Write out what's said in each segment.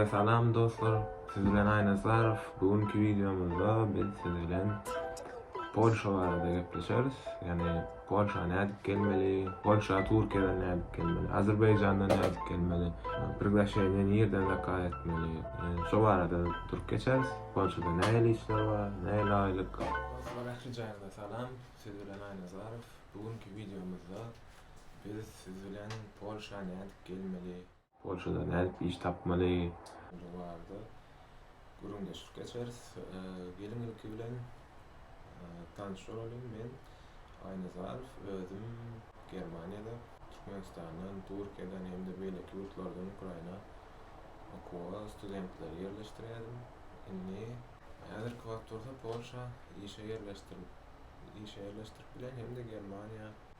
Salam dostlar siz bilen Aýnazarow bu günki wideomyzda biz siz bilen Polşa barada gepleşeris ýagny Polşa nädip gelmeli Polşa Türkiýeden nädip gelmeli Azerbaýjandan nädip gelmeli Priglaşeniýe nirden zakaz etmeli şo barada durup geçeris Polşada nähili işler bar nähili aýlyk Dostlar ähli jaýyňyza salam siz bilen Aýnazarow bu günki wideomyzda biz siz bilen Polşa nädip gelmeli Polşada nädip iş tapmaly? Bu barada gürrüňdeşlik geçeris. Geliň ilki bilen tanyş bolalyň. Men Aýna Zarow. Özüm Germaniýada, Türkmenistandan, Türkiýeden hem-de beýleki ýurtlardan Ukraina okuwa studentleri ýerleşdirýärin. Indi häzirki wagt bolsa Polşa işe ýerleşdirip işe ýerleşdirip bilen hem-de Germaniýa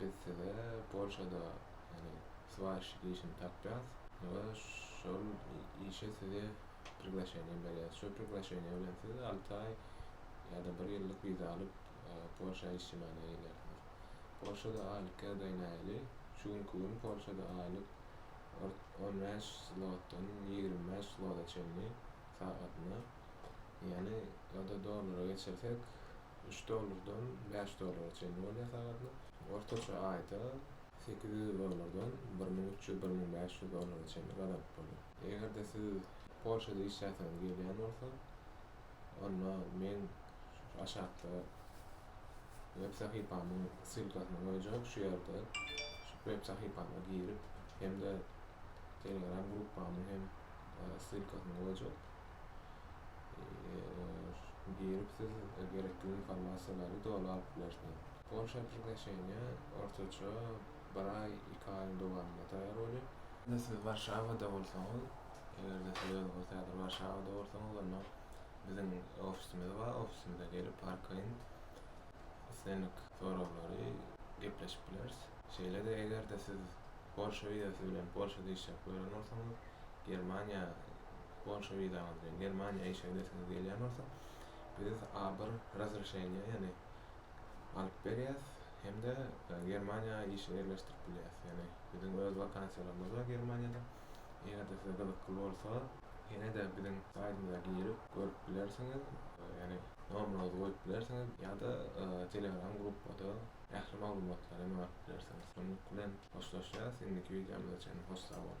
Biz size Polşada, ýagny swarişçik işini tapýas we şol işe size priglaşeniýe berýäs. Şol priglaşeniýe bilen siz alty aý ýa-da bir ýyllyk wiza alyp, Polşa işçimana gelýärsiňiz. Polşada aýlyk ýagdaý nähili? Şu günki gün Polşada aýlyk on bäş zlotdan ýigrimi bäş zlota çenli sagatyna. Ýani ýa-da dollara geçirsek üç dollardan bäş dollara çenli bolýar sagadyna. Ortaça aýda sekiz ýüz dollardan bir müň üç ýüz-bir müň bäş ýüz dollara çenli gazanyp bolýar. Eger-de siz Polşada işläsiňiz gelýän bolsa onda men şu aşakda web sahypamyň ssylkasyny goýjak şu ýerde şu web sahypama girip hem-de telegram gruppamyň hem ssylkasyny goýjak. girip siz gerekli informasiýalary dolap bilersiňiz. Polşa aplikasyýa ortaça bir aý, iki aýyň dowamynda taýýar bolýar. Indi siz Warşawada bolsaňyz, eger-de siz özüňiz häzir Warşawada bolsaňyz, onda biziň ofisimiz bar, ofisimize gelip arkaýyn islendik soraglary gepleşip bileris. Şeýle-de eger-de siz Polşa wizasy bilen Polşada işläp gören bolsaňyz, Germaniýa Polşa wizaňyz bilen Germaniýa işe gidesiňiz gelýän bolsa, biz A-bir razreşeniýa, ýagny alyp berýäs hem-de Germaniýa işe ýerleşdirip bilýäs. Ýagny biziň öz wakansiýalarymyz bar Germaniýada. Eger-de size gyzykly bolsa, ýene-de biziň saýtymyza girip görüp bilersiňiz, ýagny nomeryňyzy goýup bilersiňiz ýa-da Telegram gruppada ähli maglumatlary maňa atyp bilersiňiz. Şunluk bilen hoşlaşýas, indiki wideomyza çenli hoş sag boluň.